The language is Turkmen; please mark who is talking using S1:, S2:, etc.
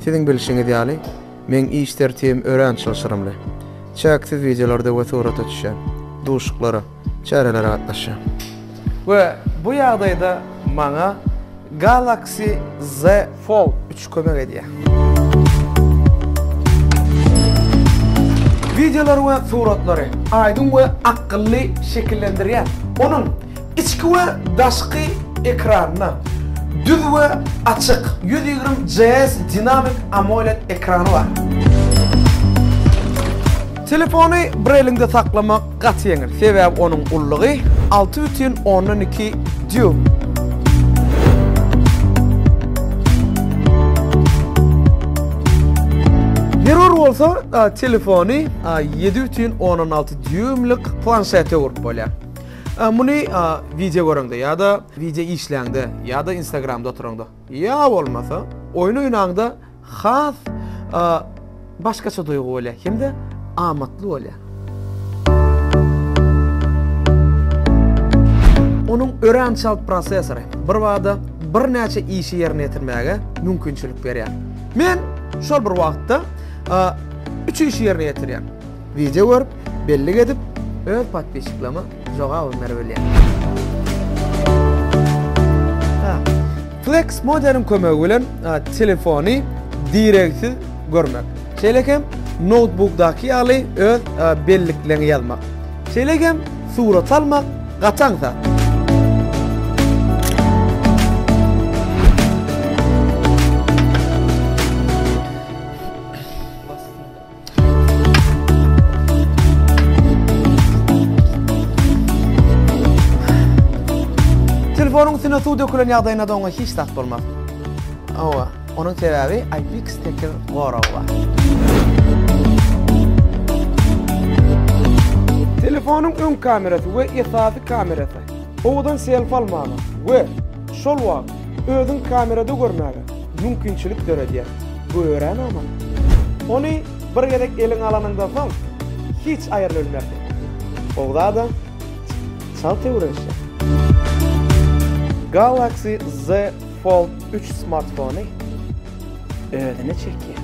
S1: Siziň bilşiňiz ýaly, meň iş tertibim örän çylşyrymly. Çäksiz wideolarda we surata düşýän, duşuklara, çärelere gatnaşýan. We bu ýagdaýda maňa Galaxy Z Fold üç kömek edýär. Wideolary we suratlary aýdyň we akylly şekillendirýär. Onuň. Içki we daşky ekranyna düz we açyk ýüz ýigrimi CS dinamik AMOLED ekrany bar. Telefony bir eliňde saklamak gaty ýeňil, sebäbi onuň ullugy alty bütin ondan iki dýuym. Zerur bolsa, telefony ýedi bütin ondan alty dýuýmlik planşete urip bolýar. Muny wideo göreňde ýa-da wideo işläňde ýa-da instagramda oturaňda ýa bolmasa oýun oýnaňda has başgaça duýgy bolýar hem-de amatly bolýar. Onuň örän çalt prossesory birbada birnäçe işi ýerine ýetirmäge mümkinçilik berýär. Men şol bir wagtda üç işi ýerine ýetirýän. Wideo görüp, bellik edip, öz podpisçiklama jogabyny berip bilýär. Ha, Flex Modern kömegi bilen telefony direksiz görmek. Şeýle hem noutbukdaky ýaly öz bellikleňi ýazmak. Şeýle hem surat almak gaty aňsat. Telefonyň üstüne suw dökülen ýagdaýynda da oňa hiç zat bolmaz. Owa, onuň sebäbi IPX tekiz goragy bar. Telefonyň öň kamerasy we esasy kamerasy owadan selfi almaga we şol wagt Özüň kamerada görmäge mümkinçilik döredýär. Bu örän amat. Ony bir gezek eliňe alanyňdan soň, hiç aýryp bilmersiň. Ogza-da çalt töwereşýär. Galaxy Z Fold üç smartfony özüne çekýär.